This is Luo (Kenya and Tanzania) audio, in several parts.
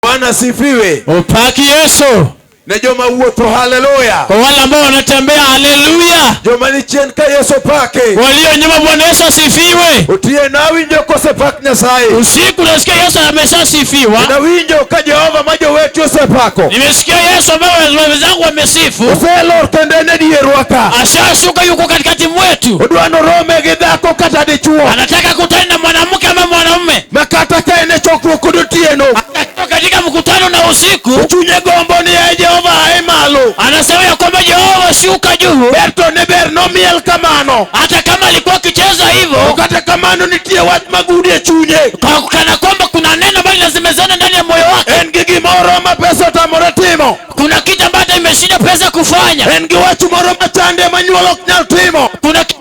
Bwana sifiwe. Upaki Yesu. Ne joma wuotho haleluya. Kwa wale ambao wanatembea haleluya. Joma ni chien ka Yesu pake. Walio nyuma Bwana Yesu asifiwe. Utie na winjo kose pak Nyasaye. Usiku nasikia Yesu ameshasifiwa. Na winjo ka Jehova ma jowetu osepako. Nimesikia Yesu ambao wenzangu wamesifu. Oselor kendo en dierwa ka. Ashashuka yuko katikati mwetu. Odwa norome gi dhako kata dichwo. Anataka kutana na mwanamke ama mwanaume. ma kata ka en e chokruok kod otieno Akatoka katika mkutano na usiku chunye gombo ni e jehova ae malo anasema ya kwamba Yehova shuka juu, ber to ne ber nomiel kamano hata kama alikuwa akicheza To hivyo, kata kamano nitie wach magudi e chunye kwa- kana kwamba kuna neno ambalo linazimezana ndani ya moyo wake. en gi gimoro ma pesa otamore timo Kuna kitu ambacho imeshinda pesa kufanya, en gi wach moro machande ma nyuol ok nyal timo kuna kitu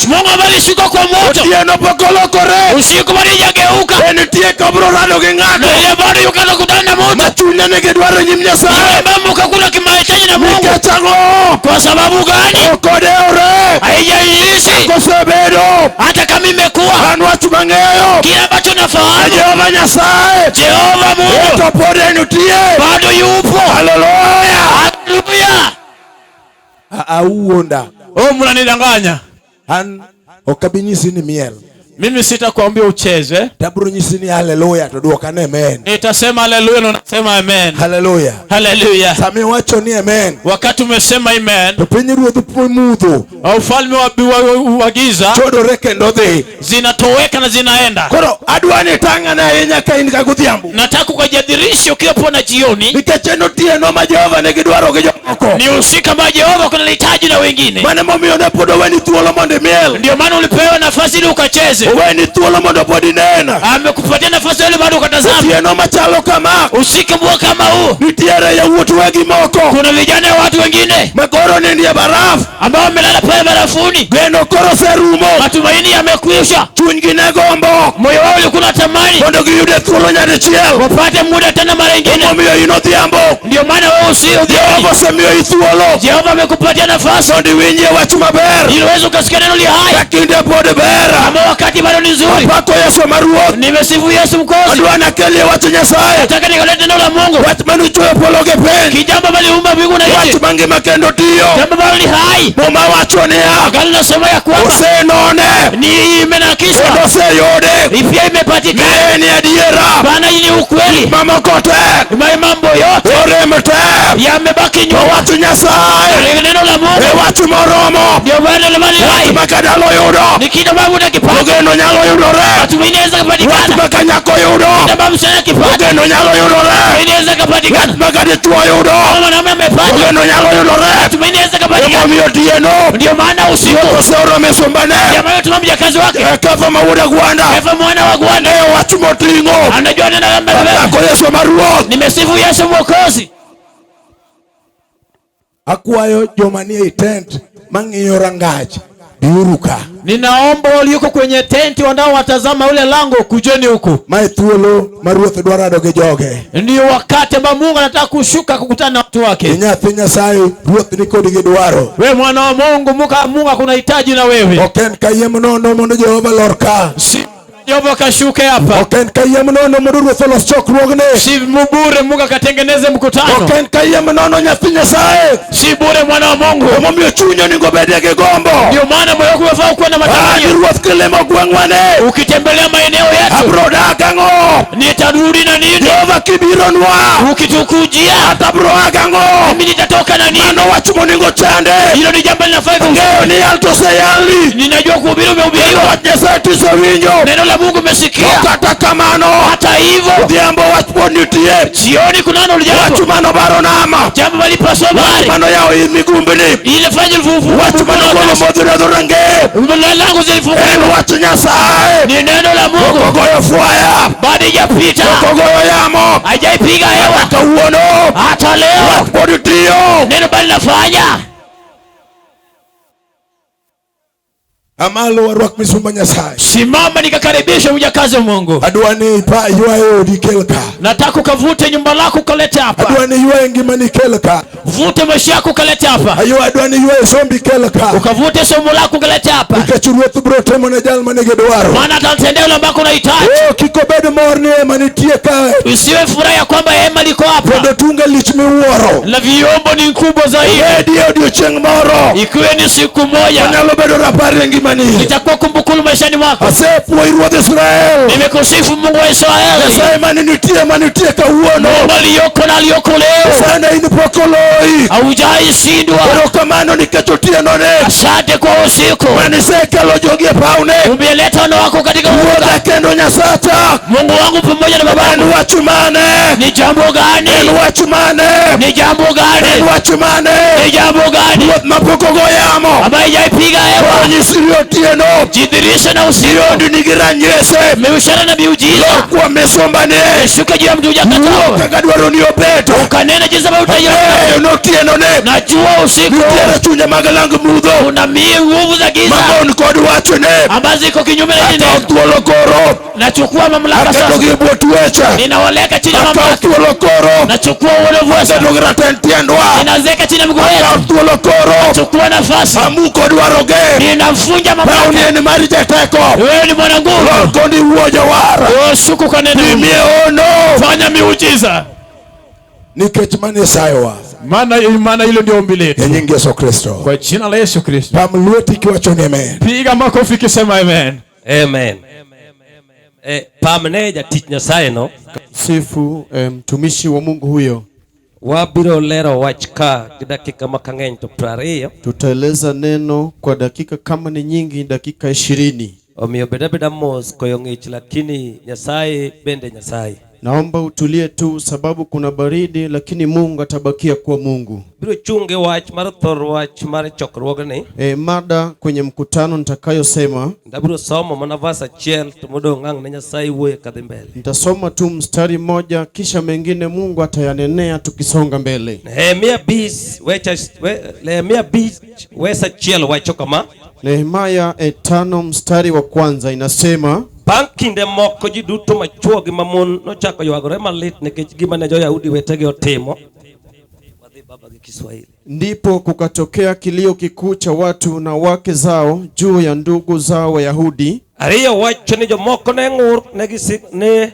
mach. Mungu habari siko kwa moto. Otieno pok olokore. Usiku bado hajageuka. Be nitie kabro rado gi ng'ato. Na yeye bado yuko na kudana na moto. Ma chunye ni gidwaro nyim Nyasaye. Yeye bado kakuna kimahitaji na Mungu. Nikech ang'o? Kwa sababu gani? Ok odewore. Haijaishi. Akosebedo. Hata kama imekuwa. An wach mang'eyo. Kile ambacho nafahamu. Jehova Nyasaye. Jehova Mungu. Ito pod en nitie. Bado yupo. Haleluya. Haleluya. auonda oh, mnanidanganya an ok abi nyisi ni miel mimi sitakwambia ucheze, tabro nyisi ni haleluya to duoka ni amen. Nitasema haleluya na nasema amen. Haleluya, haleluya. Sami wacho ni amen, wakati umesema amen, to piny ruodh mudho, ufalme wa giza chodore kendo dhi zinatoweka na zinaenda. Koro adwa ni tang'ane ahinya ka in ka godhiambo. Nataka ukajadhirishe ukiwa pona jioni. Nikech en otieno ma Jehova ne gidwaro gi jomoko. Ni usiku ambao Jehova kuna lihitaji na wengine. Maana momiyo ne pod oweni thuolo mondo imiel. Ndio maana ulipewa nafasi ili ukacheze. Oweni thuolo mondo pod inena. Amekupatia nafasi ili bado ukatazama. Otieno machalo kama. Usiku mbua kama huu. Nitiere yawuot wegi moko. Kuna vijana watu wengine. Makoro ni ndiye barafu. ambao wamelala pale barafuni, geno koro oserumo, matumaini yamekwisha, chunygi ne gombo, moyo wao ulikuwa unatamani mondo giyude thuolo nyadichiel, wapate muda tena mara ingine. Omiyo in odhiambo, ndio maana wewe usio Jehova osemiyo i thuolo, Jehova amekupatia nafasi mondo iwinjie wach maber, ili uweze ukasikia neno li hai, ka kinde pod ber, ama wakati bado ni nzuri. Apako Yesu ma Ruoth, nimesifu Yesu Mkozi, adwa nakelie wach Nyasaye, nataka nikalete neno la Mungu, wach manuchweyo polo gi piny, kijambo maliumba mbingu na nchi, wach ngima kendo tiyo. Jambo ambalo ni hai. Muma wacho niya. Agano nasema ya kwamba. Usenone. Ni imenakisha. Kendo oseyude. Ipia imepatikana. Naye ni adiera. Bana ni ukweli. Mama kote. Mai mambo yote. Orem te. Yamebaki nyuma. Watu Nyasaye. Neno la Mungu. E watu moromo. Ndio bana la mali hai. Makadalo yudo. Ni kitu babu na kipato. Ogeno nyalo yudore. Watu minaweza kupatikana. Watu makanyako yudo. Ndio babu sana kipato. Ogeno nyalo yudore. Minaweza kupatikana. Watu makaditwa yudo. Mama na amefanya weno nyalo yudore matumaini yaweza kapatikana. Emomiyo tiyeno ndio maana usiku oseoro misumbane ndio maana tuma mjakazi wake eketho ma wuod agwanda eketho mwana wa agwanda e wach moting'o anajua neno la mbele ako Yesu ma Ruoth nimesifu Yesu Mwokozi. Akwayo joma nie tent mang'iyo rangach biuruka. Ninaomba walioko kwenye tenti wanaowatazama ule lango, kujeni huku. Mae thuolo ma Ruoth dwaro ado gi joge. Ndio wakati ambao Mungu anataka kushuka kukutana na watu wake. Nyathi Nyasaye, Ruoth ni kodi gi dwaro. Wewe mwana wa Mungu, Mungu akuna hitaji na wewe. Ok en kayiem nono mondo Jehova lorka. Si Jehova kashuke hapa. Ok en kayiem nono mondo Ruoth olos chokruogne. Si bure Mungu akatengeneze mkutano. Ok en kayiem nono nyathi Nyasaye. Si bure mwana wa Mungu. Emomiyo chuny onego obedie gi gombo. Ndio maana moyo wako unafaa kuwa na matamanio. Ruoth kilimo gweng'wane. Ukitembelea maeneo yetu. Abro dak ang'o? Nitarudi na nini? Jehova kibironwa. Ukitukujia. Hata abro dak ang'o? Mimi nitatoka na nini? Mano wach monego chande. Hilo ni jambo linafaa. Ng'eyo ni yal to oseyali. Ninajua vile umehubiriwa Wach Nyasaye tisewinjo. neno la mungu umesikia To kata kamano, hata hivyo odhiambo wach pod nitie. jioni kunano Wach jambo mano baro nama. jambo malipaso Wach bari mano yawo i migumbini. ile fanya lifufu Wach mano golo modhi redho rangeye. mbele langu En zilifunguliwa wach Nyasaye. ni neno la mungu Ogoyo fwaya. bado ijapita Ogoyo yamo. haijaipiga hewa Kata wuono. hata leo Wach pod tiyo. neno bali nafanya Amalo warwak misumba Nyasaye. Simama nikakaribisha mjakazi wa Mungu. Adwa ni ipa ywaye odi kel ka. Nataka ukavute nyumba lako ukalete hapa. Adwa ni ywaye ngima ni kel ka. Vute maisha yako ukalete hapa. Ayo adwa ni ywaye sombi kel ka. Ukavute somo lako ukalete hapa. Nikech ruoth biro timo ne jal ma nigi dwaro. Maana atatendea yule ambako unahitaji. Oh, kik obed mor ni ema nitie kae. Usiwe furaha ya kwamba hema liko hapa. Kendo tunge lich miwuoro. Na vyombo ni kubwa zaidi. Hedi odiechieng' moro. Kwe ni siku moja onyalo bedo rapar e ngimani itakuwa kumbukumbu maishani mwako. asepuoyi ruodh israel Nimekusifu Mungu wa Israeli, nyasaye mane nitie mane nitie kawuono Mungu aliyoko na aliyoko leo, sana in pok oloyi haujaishindwa. erokamano nikech otienone Asante kwa usiku manisekelo jogi e pawne umeleta wana wako katika uga. ruodha kendo nyasacha Mungu wangu pamoja na en babangu, wach mane ni jambo en gani? wach mane Ni jambo en gani? wach mane Nandi. Ni jambo gani Ruoth ma pok ogo yamo. ambayo haijaipiga hewa? Ranyisi iliyo otieno. Jidhihirishe na usiku, Iliyondi nigi ranyisi. miushara na miujiza Lokwa misombane. ishuke juu ya mtu hujakata, Ruoth kaka dwaro ni obeto. ukanena jinsi ambavyo utaiona. Eyo notieno ne. Najua usiku Nitiere chunje mag lang mudho. kuna mii nguvu za giza Mamon kod wachone. ambazo ziko kinyume na Kata neno. thuolo koro. nachukua mamlaka sasa, aketo gi bwot wecha, ninawaleka chini ya akawo mamlaka, thuolo koro, nachukua uono vuesa, aketo gi raten tiendwa, ninaziweka chini ya miguu akawo yetu, thuolo koro, nachukua nafasi, amuko dwaro ge, ninavunja rauni mamlaka. en mar jateko, Wewe ni mwana nguvu, lor kondi wuo jowar, wewe shuku kwa neno, timie ono, fanya miujiza, nikech mano isayowa, maana maana hilo ndio ombi e letu nying Yesu Kristo. Kwa jina la Yesu Kristo, Pam lweti kiwacho ni amen. piga makofi kisema amen. Amen. Eh, pamne jatich Nyasaye no. Sifu eh, mtumishi um, wa Mungu huyo. Wabiro lero wach ka gi dakika ma kang'eny to prariyo. Tutaeleza neno kwa dakika kama ni nyingi dakika ishirini. Omiyo beda beda mos koyo ng'ich lakini Nyasaye bende Nyasaye. Naomba utulie tu sababu kuna baridi, lakini Mungu atabakia kuwa Mungu. Biro chunge wach mar thor wach mar chokruogni. E, mada kwenye mkutano nitakayosema ndabiro somo mana vas achiel to modong' ang' ne Nyasaye wuoye kadhi mbele. Nitasoma tu mstari mmoja kisha mengine Mungu atayanenea tukisonga mbele. Nehemia bis, we, we, Nehemia bis, wes achiel wacho kama Nehemia e tano mstari wa kwanza inasema Bang' kinde moko ji duto machwo gi mamon nochako ywagore malit nikech gima ne jo-Yahudi wetegi otimo. Wadhi baba gi Kiswahili. ndipo kukatokea kilio kikuu cha watu na wake zao juu ya ndugu zao Wayahudi. Ariyo wacho ni jomoko ne ng'ur ne gisik ne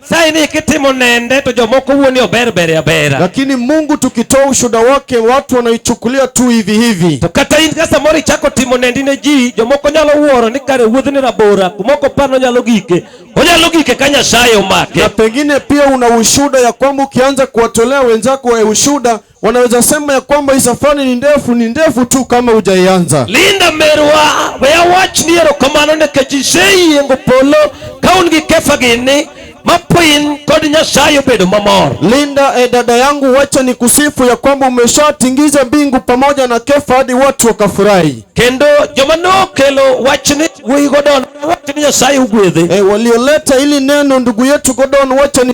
Sai ni kitimo nende to jomoko wuoni ober bere abera. Lakini Mungu tukitoa ushuhuda wake watu wanaichukulia tu hivi hivi. To kata in kasa mori chako timo nendi ne ji jomoko nyalo wuoro ni kare wuodh ni rabora kumoko pano nyalo gike. Onyalo gike ka Nyasaye omake. Na pengine pia una ushuhuda ya kwamba ukianza kuwatolea wenzako ushuhuda Wanaweza sema ya kwamba hii safari ni ndefu, ni ndefu tu kama hujaianza. Linda merwa weya wach ni erokamano nikech iseyingo polo ka un gi kefa gini mapoin kod Nyasaye obedo mamor. Linda, e dada yangu, wacha ni kusifu ya kwamba umeshatingiza mbingu pamoja na kefa hadi watu wakafurahi. Kendo joma nokelo wachni wuyi Godon, wachni Nyasaye ugwedhe. E, walioleta ili neno ndugu yetu Godon, wacha ni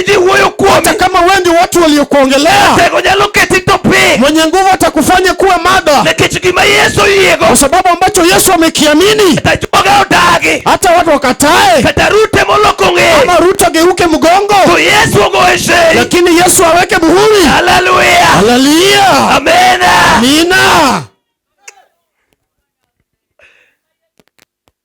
ji wuoyo kuomi hata kama wewe ndio watu waliokuongelea tego nyalo keti to piny mwenye nguvu atakufanya kuwa mada nikech gima yesu oyiego kwa sababu ambacho yesu amekiamini kata joga odagi hata watu wakatae kata rute moloko ng'e ama ruto ageuke mgongo to yesu ogoye sei lakini yesu aweke muhuri haleluya haleluya amena amina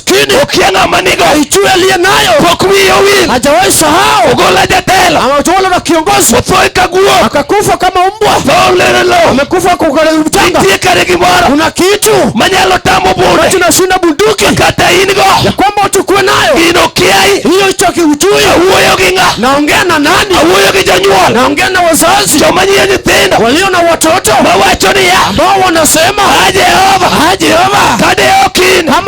chini ukia ng'ama nigo aichue aliye nayo pok wiye owil hajawahi sahau ogola jatelo ametowala na kiongozi otho ka guok akakufa kama mbwa tho lere lo amekufa kwa mchanga nitie kare gimoro kuna kitu manyalo tamo bunde tunashinda bunduki kata in go ya kwamba utukue nayo in okiai hiyo hicho kiujui awuoyo gi ng'a naongea na nani awuoyo gi jonyuol naongea na wazazi joma nyie nyithindo walio na watoto mawacho niya ambao wanasema a jehova a jehova kade okin kama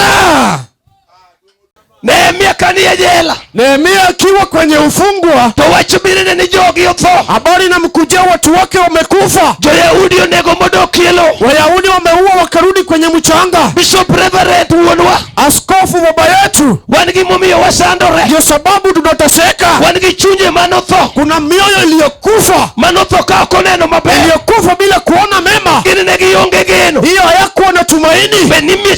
ah! Nehemia kanie jela. Nehemia akiwa kwenye ufungwa. To wach birene ni jogi otho. Habari na mkujia watu wake wamekufa. Joyahudi onego modokielo. Wayahudi wameua wakarudi kwenye mchanga. Bishop Reverend wuonwa. Askofu baba yetu. Wan gi momiyo wasandore. Ndio sababu tunateseka. Wan gi chunje manotho. Kuna mioyo iliyokufa. Manotho ka ok oneno maber. Iliyokufa bila kuona mema. Gini ne gionge geno. Hiyo hayakuwa na tumaini. Be nimie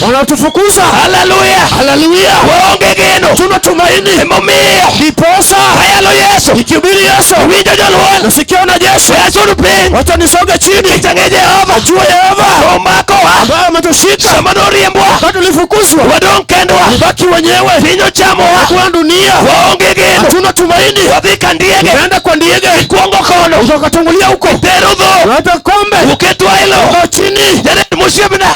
wanatufukuza. Haleluya, haleluya, waonge geno, tuna tumaini emomiyo ndiposa ayalo Yesu, nikihubiri Yesu, winjo jolweny, nasikia wanajeshi, yazuru piny, wacha nisoge chini, nitange Jehova, jua Yehova omakowa, ambaye ametushika sama noriembwa, wakati tulifukuzwa, wadong' kendwa, baki wenyewe, piny ochamowa, kwa dunia waonge geno, tuna tumaini, wadhi ka ndiege, tunaenda kwa ndiege, ikwongo kono, utakatangulia huko, tero dho, hata kombe, uketwa ilo, chini, jana msiebna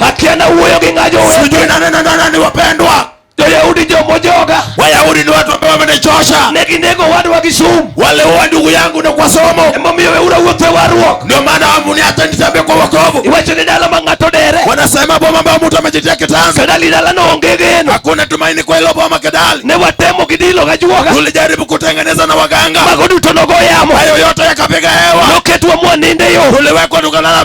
Akiana wuoyo gi ng'ajo wewe. Sijui nani na nani wapendwa. Wayahudi jomo joga. Wayahudi ni watu ambao wamenichosha. Neginego wadwa gi sum. Wale wa ndugu yangu na kwa somo. Emomiyo weura wuothe warruok. Ndio maana hamu ni hata nitambe kwa wokovu. Iwacho ni dala ma ng'ato dere. Wanasema boma ambao mtu amejitia kitanzi. Kedali dala no onge geno. Hakuna tumaini kwa hilo boma Kedali. Ne watemo kidilo gajuoga. Tulijaribu kutengeneza na waganga. Mago duto nogo yamo. Hayo yote yakapiga hewa. Noketwa mwaninde yo. Tuliwekwa tukalala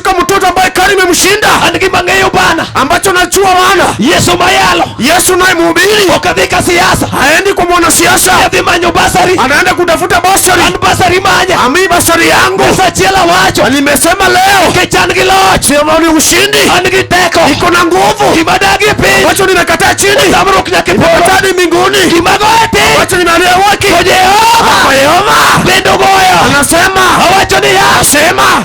katika mtoto ambaye kari imemshinda an gima ng'eyo bana ambacho najua maana yesu mayalo yesu naye mhubiri ok adhi ka siasa haendi kwa mwanasiasa adhi manyo basari anaenda kutafuta basari an basari manya ami basari yangu achiel awacho nimesema leo kech an gi loch sema ni ushindi an gi teko iko na nguvu gima dagi e piny wacho nimekataa chini samruok nyaka nimekataa ni mbinguni gimago e piny wacho nimeambia waki kwa jehova kwa jehova bendo goyo anasema awacho niya asema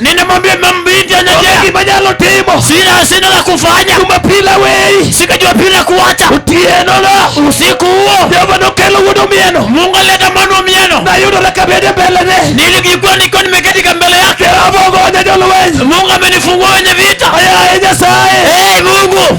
Ninamwambia mam- binti onge anyajea, gima nyalo timo sina sina la kufanya, jumapil aweyi sika Jumapili na kuacha otienono usiku huo. jehova nokelo wuod omieno Mungu aleta mwana wa mieno, nayudora kabede mbelene nilijikuwa nikiwa nimeketi ka mbele yake. jehova ogonya jolweny Mungu amenifungua wenye vita. ayaye nyasaye Hey, Mungu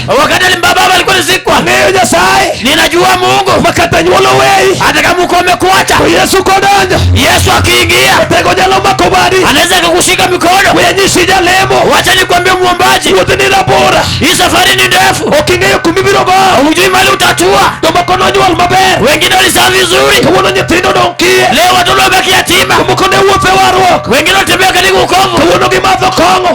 wakati alimbaba alikuwa nizikwa ng'eyo nyasaye ninajua mungu makata nyuolo weyi hata kama uko umekuacha to yesu kodonjo yesu akiingia otego nyalo mako badi anaweza akakushika mikono wenyisi jalemo wacha nikwambie mwombaji wuoth ni rabora hii safari ni ndefu ok ing'eyo kumibiro go hujui mali utatua jomoko nonyuol maber wengine walizaa vizuri kawuono nyithindo odong' kiye leo watoto wabaki yatima jomoko ne wuothe warruok wengine watembea katika ukovu kawuono gimadho kong'o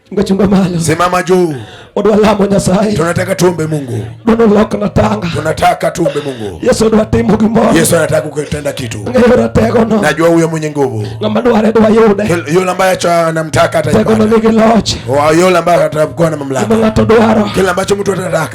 Ngachunga malo. Simama juu. Odwa lamo Nyasaye. Tunataka tuombe Mungu. Dono loko na tanga. Tunataka tuombe Mungu. Yesu odwa timo gimoro. Yesu anataka kutenda kitu. Ng'eyo ratego no. Najua huyo mwenye nguvu. Ng'ama dware dwa yude. Yule ambaye acha anamtaka atajipata. Tego no nigi loch. Yule ambaye atakuwa na mamlaka. Kila ambacho mtu atataka.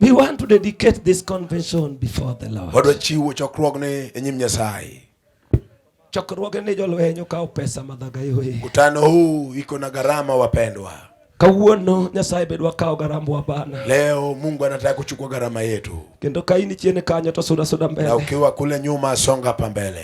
We want to dedicate this convention before the Lord. Wadwa chiwo chokruogni e nyim Nyasaye. Chokruoge ni jolweny okawo pesa madhaga yoe. Mkutano huu iko na gharama wapendwa. Kawuono Nyasaye be dwa kawo garambwa bana. Leo Mungu anataka kuchukua gharama yetu. Kendo ka in chien kanyo to suda suda mbele. Na ukiwa kule nyuma songa pa mbele.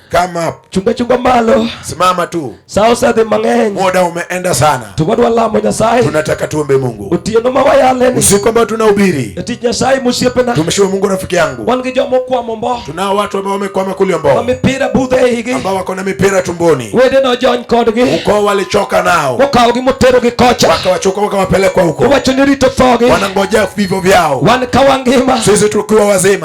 Come up. Chunga chunga malo. Simama tu. Sao sa de mang'eny. Muda umeenda sana. Tuwadwa lamo Nyasaye. Tunataka tuombe Mungu. Otieno ma wayaleni. Usiku ambao tunahubiri. Eti Nyasaye msiepena. Tumshukuru Mungu rafiki yangu. Wan gi jomo kwa mombo. Tunao watu ambao wamekwama kule mbo. Wa mipira budhe higi. Ambao wako na mipira tumboni. Wede no jony kodgi. Uko walichoka nao. Wakawo gi motero gi kocha. Wakawachoka wakawapelekwa huko. Wacho ni rito thogi. Wanangojea vivyo vyao. Wan kawangima. Sisi tukiwa wazima.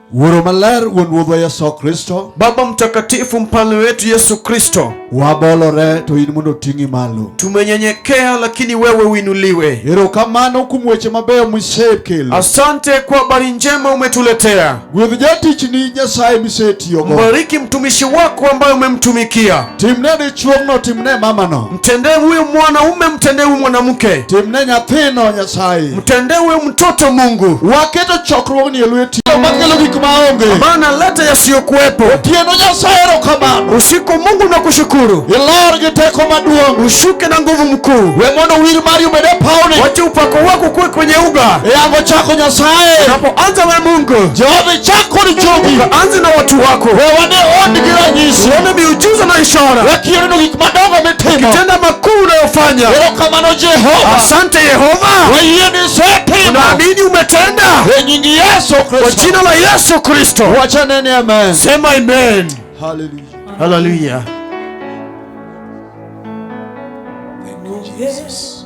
Wuoro maler wuon Ruodhwa Yesu Kristo. Baba mtakatifu mfalme wetu Yesu Kristo. Wabolore to in mondo ting'i malo. Tumenyenyekea lakini wewe uinuliwe. Erokamano kuom weche mabeyo misekelo. Asante kwa habari njema umetuletea. Gwedh jatichni Nyasaye misetiyogo. Mbariki mtumishi wako ambaye umemtumikia. Timne dichuogno, timne mamano. Mtendee huyu mwanaume, mtendee huyu mwanamke, timne nyathino Nyasaye, mtendee huyu mtoto Mungu. Waketo chokruogni e lweti, makelo gik maonge, ambayo naleta yasiyokuwepo. Otieno Nyasaye erokamano, usiku Mungu nakushukuru. Ilor gi teko maduong', ushuke na nguvu mkuu. We mondo wir mari obed e pawni, wacha upako wako kuwe kwenye uga. Eyango chako Nyasaye, unapoanza na Mungu Jehova, ichako ni jogi, anza na watu wako. We wane odgi ranyisi, uone miujiza na ishara gik madongo mitimo, kitenda makuu unayofanya. Erokamano Jehova, asante Yehova, wayie ni isetimo, naamini umetenda. E nyingi Yesu Kristo, kwa jina la Yesu Kristo, wacha nene amen, sema amen. Haleluya, haleluya. Thank you Jesus.